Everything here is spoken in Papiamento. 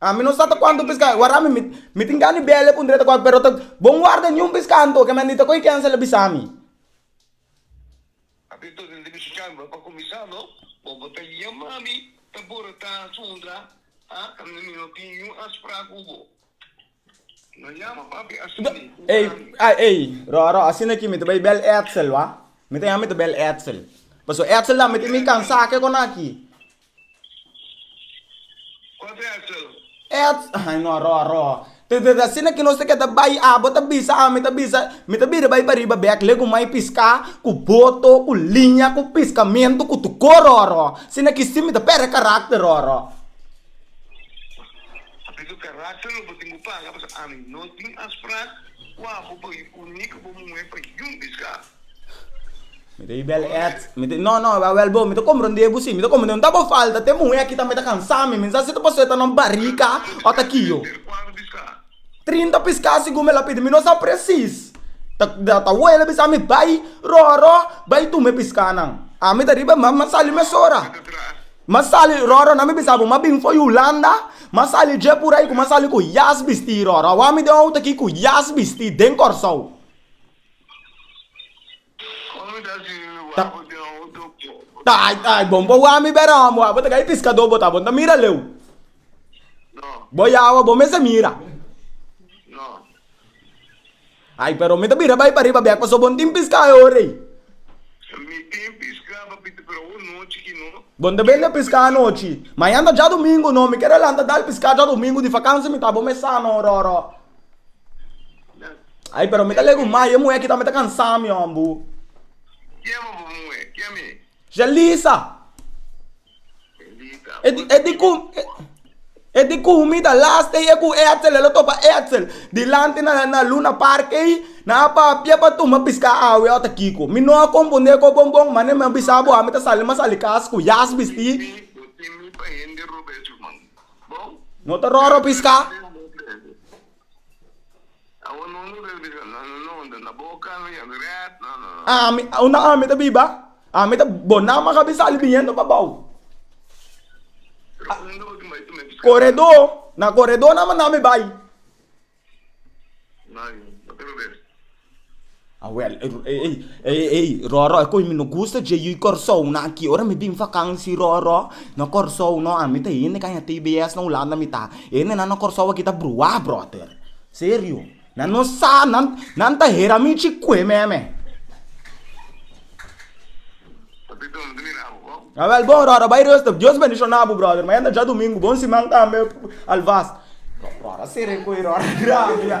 Ami no sa ta kuantu piscai warami mi tin gana di bele kundre ta kual pero ta bon warda ni un pisca anto ke mandi ta koi ken sele bisami. Ey, ay, ey, Roro, asina ki mi ta bay bel Edsel, wa? Mi ta ya mi ta bel Edsel. Paso Edsel da mi ti mi kansa ke kona ki. Wat Edsel? Eds, ay no, Roro. Te te asina ki nos te keda bay abo ta bisa ami ta bisa, mi ta bira bay pariba bek le ku mai piska, ku boto, ku liña, ku piskamento, ku tuko, Roro. Asina ki si mi ta pere karakter, Roro. Papia ku karater lo bo tin ku paga pasobra ami no tin afsprak ku abo pa yu uní ku bo muhé pa yun bis karu. Mi ta yu bèl èt. Mi ta, no, no, awèl bo, mi ta kompra un di e busí. Mi ta kompra un di e, no ta bo falta, te muhé aki tambe ta kansa mi, mi no sa si ta pasó e ta na un barika o ta kio. Karater kuater bis karu. Trinta piská segun mi la pidi mi no sa presis ta wele bisa mi bai roro bai tume piskánan ami ta riba mar mi a sali mesora mi a sali roro nan mi bisa bo mi a bin for yulanda mi a sali dje pur ai ku mi a sali ku yas bisti roro awor ami den outo aki ku yas bisti den kòrsou. Ta ta ai ai bon bo wami bera hom wa bo ta kai piskadó bo ta bo ta mira leu bo yawa bo mester mira ai pero mi ta bira bai pariba bek pasobra bon tin piska e ora ei bon ta bini a piska anochi mañan ta djadomingo no mi kere lanta dal piska djadomingo di vakansi mi ta bo mester sa no ora ora. Ay pero mi ta legu mai e muhé aki tambe ta cansá mi hon bu. Quién bo bo muhe? Quién mi? Yelisa. Yelisa. E di e di cu e di cu mi ta last ey e cu Edsel e lo topa Edsel dilanti na na Luna Park ey na a papia pa tuma pisca awe ota kico. Mi no a confunde cu bon bon mane mi a bisa bo a mi ta sali mi a sali cas cu jas bisti. Bo tin mi pa hende Robes Ruman. No ta ròrò piská. Ami, unda ami ta biba, ami ta, bo nan maka bin sali biniendo pa bou. Koredó, na koredó naman nan mi bai. Awel, ey, ey, ey, Roro, e koe mi no gusta dje yu Kòrsou nan aki. Ora mi bin fakansi, Roro, na Kòrsou, no, ami ta hende kaña tbs na Hulanda mi ta. Hende nan na Kòrsou aki ta bruwá, bròter. Serio. Nan no sa, nan, nan ta hera mi chikue meme. Awel bon rora bay rustig. Dios bendiciona bu brother mañana djadomingo bon siman tambe alvast. Rora sere cu e rora grandi ya.